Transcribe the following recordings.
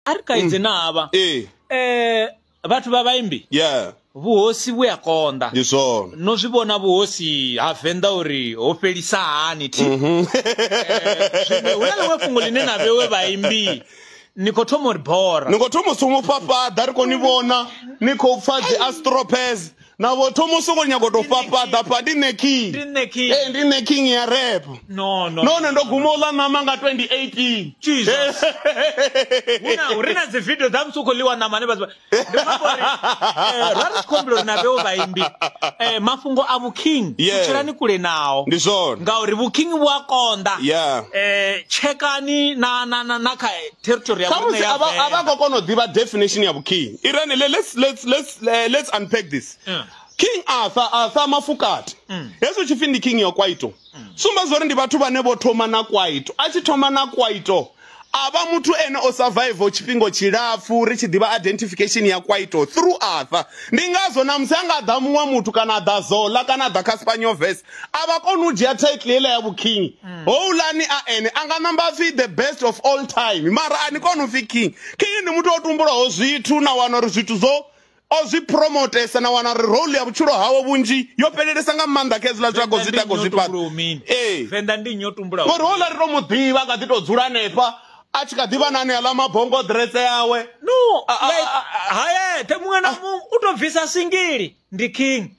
a ri kaidze na havha ee eh vhathu vha vhaimbi yeah vhuhosi vhu a konḓa ndi zwone no zwi vhona vhuhosi ha venḓa uri ho fhelisa hani thi Mhm. Eh, zwino hu na ḽiṅwe fhungo ḽine na vhewe vhaimbi ni khou thoma uri bora ni khou thoma u somu fhafhaḓa ri khou ni vhona ni khou pfha dzi astropes navho thoma u songo nyago to fhafhaḓa pha ndi nṋe king ee ndi nṋe king ya rap nahone ndo guma uḽa ṋama nga 2018ri na dzi video dza musi u khou ḽiwa ṋama ne vhathu eh, ra ri khombela uri na vheo vhaimbi eh, mafhungo a vhuking tshelani kule nao ndi zwone ngauri vhuking vhu a konḓa um eh, tshekani na na na na kha territory ya vhune ya vha vha khou kona u ḓivha definition ya vhuking irene let's let's let's le- let's unpack this Yeah. king arthur arthur mafukati Mm. hezwo tshipfi ndi king ya kwaito sumba zori ndi vhathu vhane vho thoma na kwaito a tshi thoma na kwaito a vha muthu ene o survival tshifhingo tshilapfu ri tshi ḓivha identification ya kwaito through arthur ndi ngazwo namusi a nga ḓa muṅwe muthu kana a ḓa zola kana a ḓa kha spanyoves a vha koni u dzhia title heiḽa ya vhuking mm. houḽani a ene a nga namba pfhi the best of all time mara a ni koni u pfhi king king ndi muthu o tumbulaho zwithu na wana uri zwithu zwo o zwi promotesa na wana uri role ya vhutshilo hawo vhunzhi yo fhelelesa nga maanḓa kha hezwiḽa zwithu zwi tako zwi fhaṱa ee ngori houḽa ri to mu ḓivha a kha ḓi to dzula hanefha a tshi kha ḓivha na ane aḽa mabongo ḓiretse yawe no hayethe muṅwe na ah. muṅwe u to bvisa singili ndi king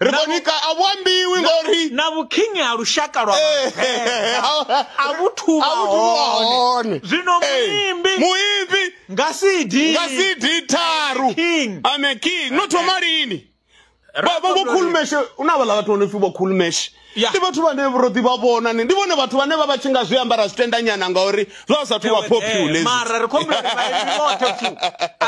ri khou nika a vhu ambiwi ngori na vhukhingi ha lushaka lwa eh, a vhu thuvha hone zwino eh, muimbi muimbi nga cd nga cd tharu i'm a king no thoma eh. lini vhokhulumeshe u na vhaḽa vhathu vho no pfi vhokhulumeshe ndi vhathu vhane ro ḓi vha vhona ni ndi vhone vhathu vhane vha vha tshi nga zwi ambara zwitendanyana ngauri zwa sa thu vha popularmara ri khou mara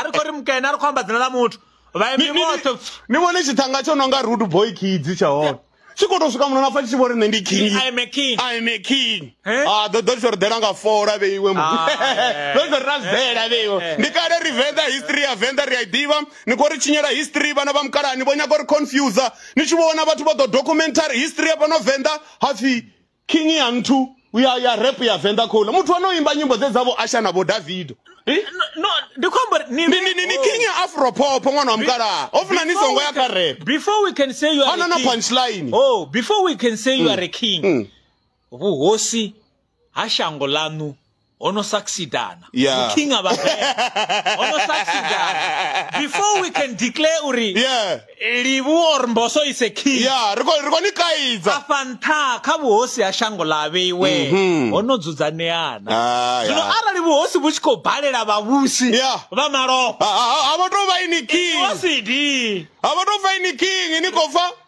ri khou ri mukene a ri khou amba dzina ḽa muthu vhaimbi vhoṱhe ni vhone tshithanga tsho no nga root boy kids tsha hone tshi khou tou swika muno na pfa tshi tshi vho ri nṋe ndi king I'm a king I'm a king eh? ah ḓo ḓo tshi ri ḓela nga fola vheiwe mu ah, eh. ḓo tshi ri ra zela eh, vheiwe ndi kale ri venḓa history ya venḓa ri a i ḓivha ni khou ri tshinyela history vhana vha mukalani vho nyaga uri confuse ni tshi vhona vhathu vha ḓo documentary history ya fhano venḓa hapfi king ya nthu ya ya rap ya venḓa khoula muthu ano imba nyimbo dze dzavho asha na vho davido eh? no ndi khombo ni ni ni ni king ya afro pop ṅwana wa mukalaha ho funa ni songo ya kha rap before we can say you are a king punchline oh before we can say you are a mm. king mm. vhuhosi ha shango lanu ono succeedana Yeah. mu king aba bad ono succeedana before we can declare uri yeah livu or mboso is a king yeah ri khou ri khou ni kaidza afha nṱha kha vhuhosi ha shango ḽa vheiwe Mhm. ho no dzudzaneana Ah, zwino yeah. arali vhuhosi vhu tshi khou balela vhavhusi Yeah. vha malofha Ha- ha- ha- ha vha tou vha ini king wasidi ha vha tou vha ini king ni khou pfa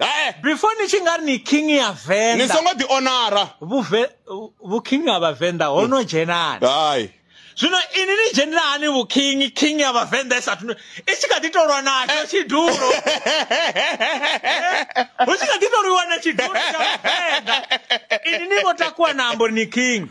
hae before ni tshi nga ri ni king ya ni venḓa songo ḓi onara vhuve vhuking ha vhavenḓa ho no dzhenani hayi zwino ini ni dzhenela hani vhuking king ya vhavenḓa i sathu i tshi kha ḓi to lwa natsho tshidulo hu tshi kha ḓi to lwiwa na tshidulo tsha vhavenḓa ini ni vho takuwa na ambo ni king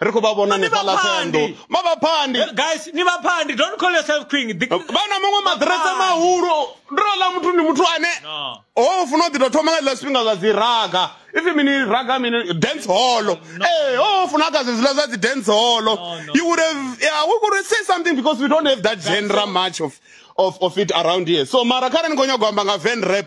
ri khou vha vhona Ni hanefhaḽa vhaphandi. ṱhenḓo mavhaphandi Eh, guys ni vhaphandi don't call yourself king Ḓi- vha na maṅwe maḓirese Vhaphandi. mahulu ndola muthu ndi muthu ane No. ho funa u ḓi tou thoma nga zwiḽa zwifhinga zwa dzi raga if mini raga mini dance hall ee ho funa kha zwe zwiḽa zwa dzi dance hall no. you would have yeah, we could say something because we don't have that genre much of, of, of it around here so mara kha re ni khou nyagwa amba nga van rap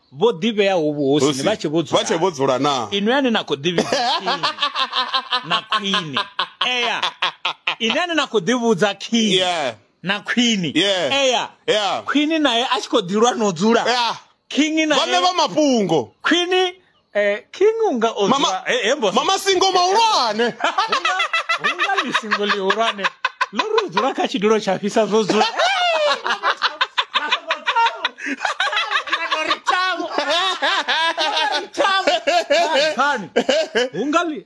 vho ḓivheaho vhuhosini vha tshe vho dzula vha tshe vho dzula na inwe ane na khou ḓivhidza na khwine eya ine ane na khou ḓivhudza khini yeah na khwini yeah. eya yeah. khwini naye a tshi khou ḓilwa no dzula yeah. kingi naye vhane vha mafhungo khwini eh, king unga odzwa Mama- he- he mbosi. mama singo mahulwane hunga lisingo lihulwane lo ri u dzula kha tshidulo tsha fhisa zwo dzula Hani, hunga li-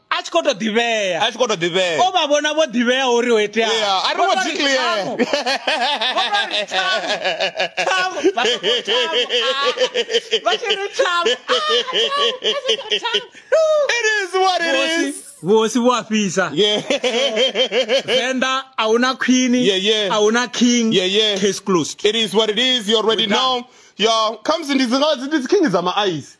a tshi khou to ḓivhea a tshi khou to ḓivhea o vha vhona vho ḓivhea uri ho itea yeah a ri vho dzi clear it is what it is vhosi vho a fhisa venḓa a hu na khwini a hu na king case closed it is what it is you already know yo khamusi ndi dzi king dza maaice